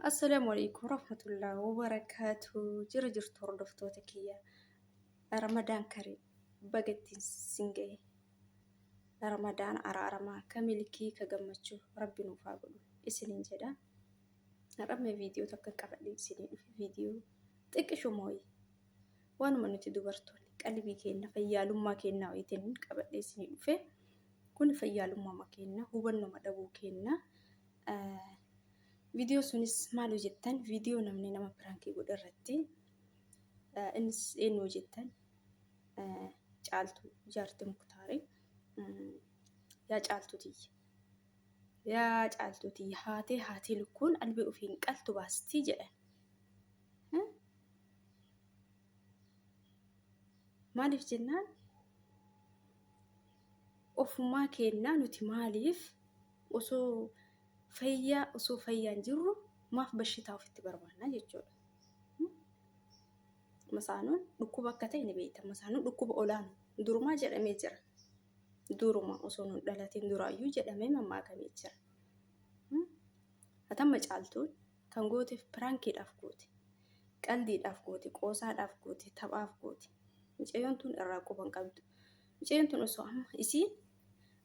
Assalaamu alaikum warahmatullahi wabarakaatu. Jira jirtu hordoftoota kiyya. Ramadaan karii baga ittiin sin gahe. Ramadaan araaramaa ka milkii ka gammachuu rabbi nuuf haa godhu isiniin jedha. Har'amma viidiyoo takka qabadhee isinii dhufe viidiyoo xiqqisho mooyi. Waanuma nuti dubartoonni qalbii keenya fayyaalummaa keenya wayiitiin qabadhee isinii dhufe. Kun fayyaalummaa keenya hubannoma dhabuu keenya. Viidiyoo sunis maal hojjettan viidiyoo namni nama piraankii godhe irratti innis eenyu hojjettan caaltuu jaarti muktaarii yaa caaltuu tiyya yaa caaltuu tiyya haatee haatee lukkuun albee ofiin qaltu baastii jedhan. Maaliif jennaan ofumaa keennaa nuti maaliif osoo fayyaa osoo fayyaan jirru maaf bashitaa ofitti barbaannaa jechuudha. Masaanuun dhukkuba akka ta'e ni beekta. Masaanuun dhukkuba olaanu durumaa jedhamee jira. Duruma osoo nun dhalatiin duraayyuu jedhamee mammaakamee jira. Hatamma caaltuun kan gooteef piraankiidhaaf goote. Qaldiidhaaf goote, qoosaadhaaf goote, taphaaf goote. Mucayyoon tun irraa quban qabdu. Muceen tun osoo amma isiin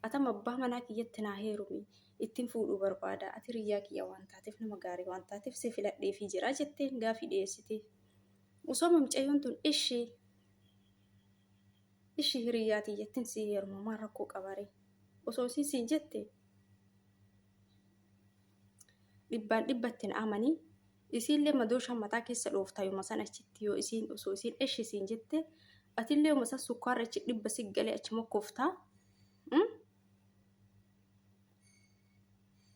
atama abbaa manaa kiyyatti naa heerumi ittiin fuudhuu barbaada ati hiriyyaa kiyya waan taateef nama gaarii waan taateef si filadheefii jira jetteen gaafii dhiyeessite. Osoo amma mucayyoon tun ishi ishi hiriyyaa tiyyattiin si heeruma maal rakkoo qabare osoo isiin siin jette dhibbaan dhibbattiin amanii Isiin'llee madooshaa mataa keessa dhooftaa yoma san achitti yoo isiin osoo isiin eshi siin jette atillee yoma san sukkaarra achi dhibba si galee achi mokkoftaa mm?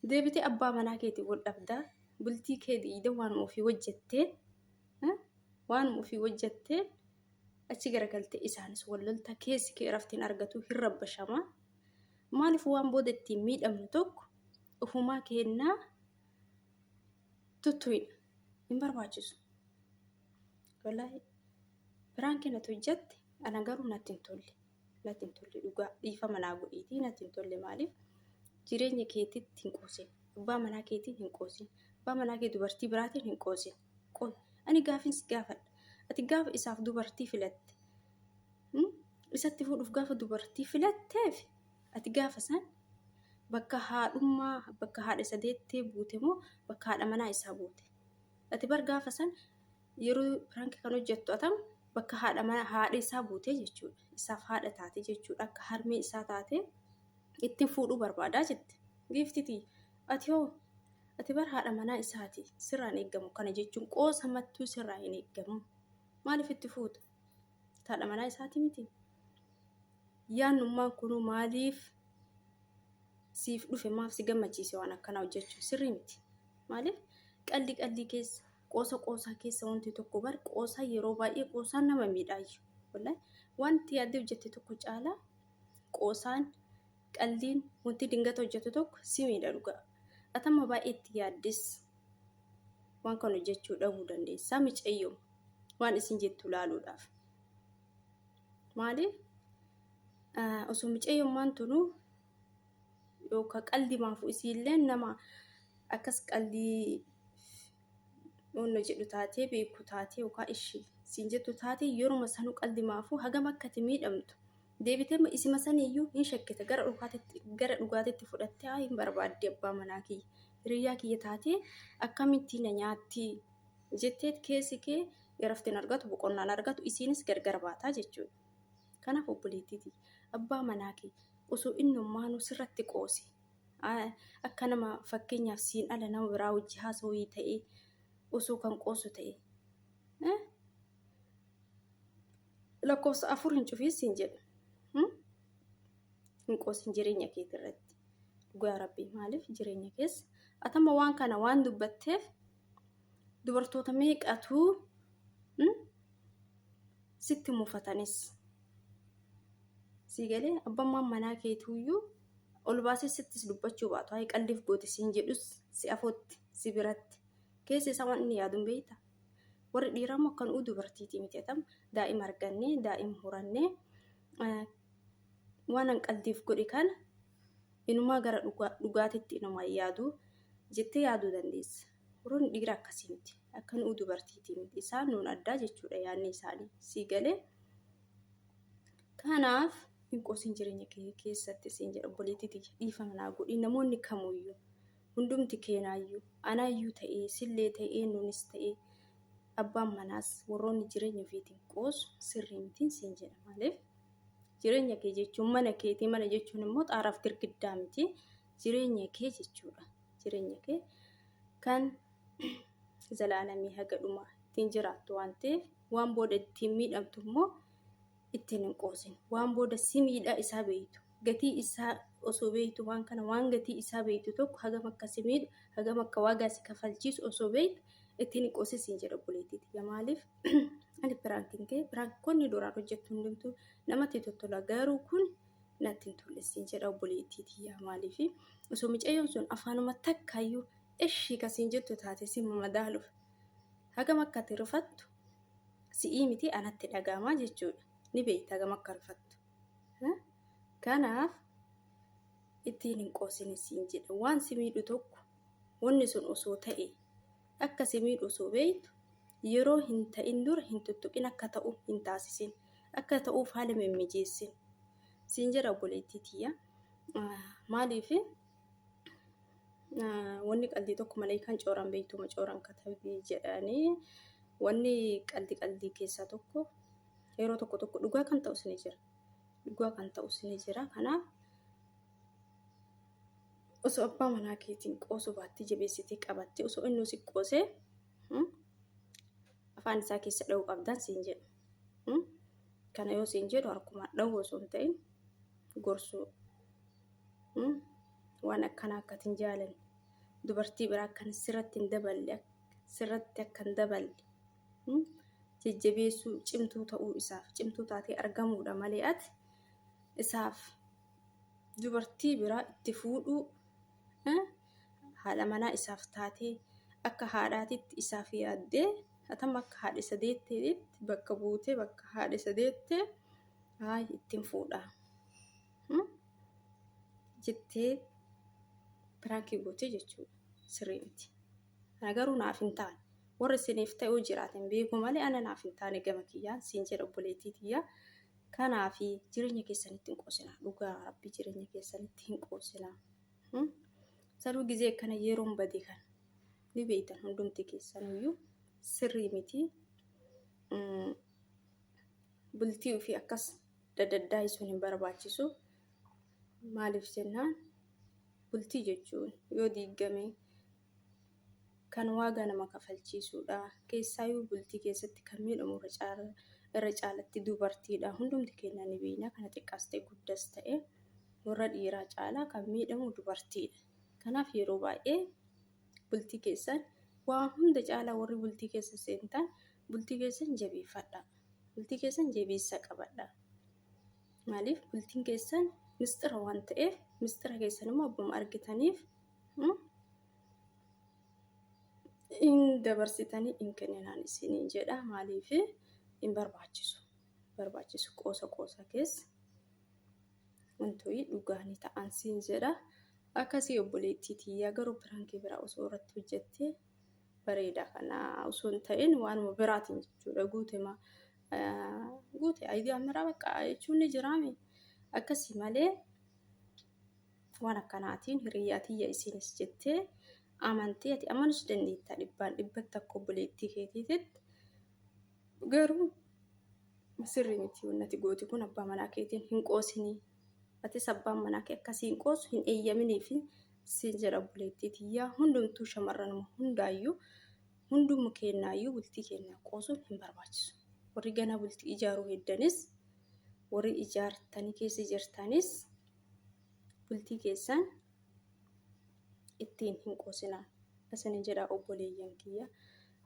deebitee abbaa manaa keetiin wal dhabdaa bultii kee diigda waan ofii hojjettee mm? waan ofii hojjettee achi garagalte isaanis wal lolta keessi kee raftiin argatu hin rabbashama maaliif waan booda ittiin miidhamnu tokko ofumaa keennaa tuttuidha hin barbaachisu wallahi biraan kee natu hojjatte ana garuu natti hin tolle natti hin tolle dhugaa dhiifama naa godhiitii natti hin tolle maaliif jireenya keetitti hin qoosin abbaa manaa keetiin hin qoosin abbaa manaa kee dubartii biraatiin hin qoosin qoy ani gaafin si gaafadha ati gaafa isaaf dubartii filatte hmm? isatti fuudhuuf gaafa dubartii filatteef Ati gaafa san bakka haadhummaa, bakka haadha isa deettee buute moo bakka haadha manaa isaa buute? Ati bar gaafa san yeroo prank kan hojjettu atam bakka haadha mana haadha isaa buutee jechuudha. Isaaf haadha taate jechuudha. Akka harmee isaa taate ittiin fuudhuu barbaadaa jette. Giiftiti ati hoo ati bar haadha manaa isaati sirraa hin eeggamu kana jechuun qoosa mattuu sirraa hin eeggamu. Maaliif itti fuuta? Haadha manaa isaati miti. yaannummaan kunuu maaliif siif dhufe maaf si gammachiise waan akkanaa hojjechuun sirrii miti. Maaliif qalli qalli keessa qoosa qoosaa keessa wanti tokko bar qoosaa yeroo baay'ee qoosaan nama miidhaayyu. Wallahi wanti yaaddee hojjette tokko caalaa qoosaan qalliin wanti dingata hojjettu tokko si miidha dhugaa. Atamma baay'ee itti yaaddes waan kana hojjechuu dhabuu dandeessaa micayyoo waan isin jettu laaluudhaaf. Maali osoo micayyummaan tunu yookaan qaldi maafu isiillee nama akkas qaldii onna jedhu taatee beeku taatee yookaan ishii siin jettu taatee yeruma sanuu qaldi maafu hagam akka itti miidhamtu deebitee isima saniyyuu hin shakkite gara dhugaatitti gara dhugaatitti fudhattee haa hin barbaadde abbaa manaa kiyya hiriyyaa kiyya taatee akkamittiin na nyaattii jetteet keessi kee iraftin argatu boqonnaan argatu isiinis gargar baataa jechuudha. Kanaaf obboleettiti abbaa manaa kee osoo innummaanuu sirratti qoose akka nama fakkeenyaaf siin ala nama biraa wajji haasawii ta'ee osoo kan qoosu ta'e lakkoofsa afur hin cufiin siin jedha. Hin qoosin jireenya keeti irratti. Dhugaa rabbii maaliif jireenya keessa atama waan kana waan dubbatteef dubartoota meeqatu mm, sitti mufatanis sii galee abbammaan manaa keetuuyyuu ol baasee sittis dubbachuu baatu hayi qalliif goote siin jedhus si afootti si biratti keessa isaa waan inni yaadun beeyta warri dhiiraa immoo kan uu dubartiitii miti atam daa'im argannee daa'im hurannee eh, waan an qaldiif godhe kana inumaa gara dhugaa dhugaatitti inumaa hin yaadu jettee yaaduu dandeessa. Warroonni dhiira akkasii miti. Akka nu'u dubartiitii miti. Isaan nuun addaa jechuudha yaadni isaanii. Sii galee? Kanaaf hin qosin jireenya kee keessatti siin jedha obboleettii tiyya dhiifama naa godhi namoonni kamuyyuu hundumti keenaayyuu anaayyuu ta'ee sillee ta'ee nuunis ta'ee abbaan manaas warroonni jireenya ofiitiin qoosu sirrii mitiin siin jedha maaliif Jireenya kee jechuun mana keetii mana jechuun immoo xaaraaf girgiddaa miti. Jireenya kee jechuudha. Jireenya kee kan zalaalamii haga dhumaa ittiin jiraattu waan ta'eef waan booda ittiin miidhamtu immoo ittiin hin qoosin. Waan booda si miidhaa isaa beektu. Gatii isaa osoo beektu waan kana waan gatii isaa beektu tokko hagam akka si miidhu hagam akka waagaa si kafalchiisu osoo beektu ittiin hin qoosin siin jedha obboleettii tiyya maaliif? ani piraankiin ta'e piraankoonni duraan hojjettu hundumtuu namatti tottola garuu kun natti hin tolle siin jedha obboleettii tiyyaa maaliif osoo micayyoon sun afaanuma takkaayyuu ishii ka siin jettu taate si madaaluuf hagam akka ati rifattu si'ii miti anatti dhaga'amaa jechuudha ni beekta hagam akka rifattu kanaaf ittiin hin qoosine siin jedha waan si miidhu tokko wanni sun osoo ta'e Akka si miidhu osoo beektu yeroo hin ta'in dura hin tuttuqin akka ta'u hin taasisin. Akka ta'uuf haala hin mimmijeessin. Siin jedha obboleettii tiyya. Maaliif wanni qalbii tokko maleekaan cooran beektuma cooran katabii jedhanii wanni qaldi qalbii keessaa tokko yeroo tokko tokko dhugaa kan ta'us ni jira. Dhugaa kan ta'us ni jira. Kanaaf osoo abbaa manaa keetiin qoosuu baattee jabeessitee qabattee osoo inni si qoosee hmm, afaan isaa keessa dha'uu qabdaan siin jedhu. Hmm? Kana yoo siin jedhu harkumaan dha'uu osoo hin ta'in gorsuu. Hmm? Waan akkanaa akka hin jaalanne dubartii biraa akkan sirratti hin daballe sirratti akka hin daballe hmm? jajjabeessuu cimtuu ta'uu isaaf cimtuu taatee argamuudha malee ati isaaf dubartii biraa itti fuudhuu haadha manaa isaaf taatee akka haadhaatitti isaaf yaaddee hatam akka haadha isa deetteetti bakka buutee bakka haadha isa deettee haay ittiin fuudha jettee piraankii gootee jechuudha sirrii miti. Ana garuu naaf hin taane warra isiniif ta'uu jiraatan beeku malee ana naaf hin taane gama kiyyaan siin jedha obboleettii tiyyaa. Kanaafi jireenya keessanitti hin qoosinaa. Dhugaa rabbi jireenya keessanitti hin qoosinaa. Hmm? Sanuu gizee kana yeroon bade kana ni beektan hundumti keessanuyyuu sirrii miti. Mm, Bultii ofii akkas dadaddaayisuun hin barbaachisu. Maaliif jennaan bultii jechuun yoo diiggame kan waagaa nama kafalchiisuudha. Keessaayuu bultii keessatti kan miidhamu irra caalatti dubartiidha. Hundumti keenya ni beekna kana xiqqaas ta'e guddas ta'e warra dhiiraa caalaa kan miidhamu dubartiidha. Kanaaf yeroo baay'ee bultii keessan waa hunda caalaa warri bultii keessa seentan bultii keessan jabeeffadha. Bultii keessan jabeessa qabadha. Maaliif bultiin keessan mistira waan ta'eef mistira keessan immoo abbuma argitaniif in dabarsitanii in kenninaan isiniin jedha maaliif in barbaachisu barbaachisu qoosa qoosa keessa wantoonni dhugaa ni ta'an siin jedha akkasii obboleettii tiyyaa garuu piraankii biraa osoo irratti hojjettee bareeda kana osoo hin ta'in waanuma biraatiin jechuudha guutema guute ayidiyaa miraa bakka jechuun ni jiraame akkasii malee Waan akkanaatiin hiriyyaa tiyya isiinis jettee amantee ati amanus dandeettaa dhibbaan dhibbatti akka obboleettii keetiititti garuu sirrii miti wannati gooti kun abbaa manaa keetiin hin qoosinii atis abbaan manaa kee akkasii hin qoosu hin eeyyaminii fi siin jedha obboleettii tiyyaa hundumtuu shamarranuma hundaayyuu hundumma keennaayyuu bultii keennaa qoosuun hin barbaachisu warri ganaa bultii ijaaruu heddanis warri ijaartanii keessa jirtanis bultii keessan ittiin hin qoosinaa isinin jedha obboleeyyan kiyya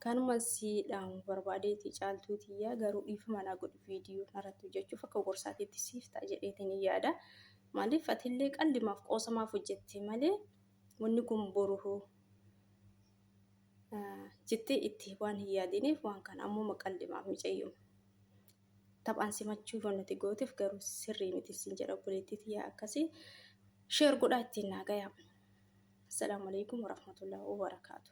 kanuma siidhaamu barbaadeeti caaltuu tiyya garuu dhiifama naa godhi viidiyoo narratti hojjechuuf akka gorsaatiitti siif ta'a jedheetiin hin yaada maaliif atillee qallimaaf qoosamaaf hojjette malee wanni kun boruhuu jettee itti waan hin yaadiniif waan kana ammoo maqallimaaf micayyuma. Taphaan simachuu yoo nati gooteef garuu sirrii miti sin jedha obboleettii tiyyaa akkasii sheer godhaa ittiin naa gayaa. Assalaamu alaikum warahmatullahi wabarakaatu.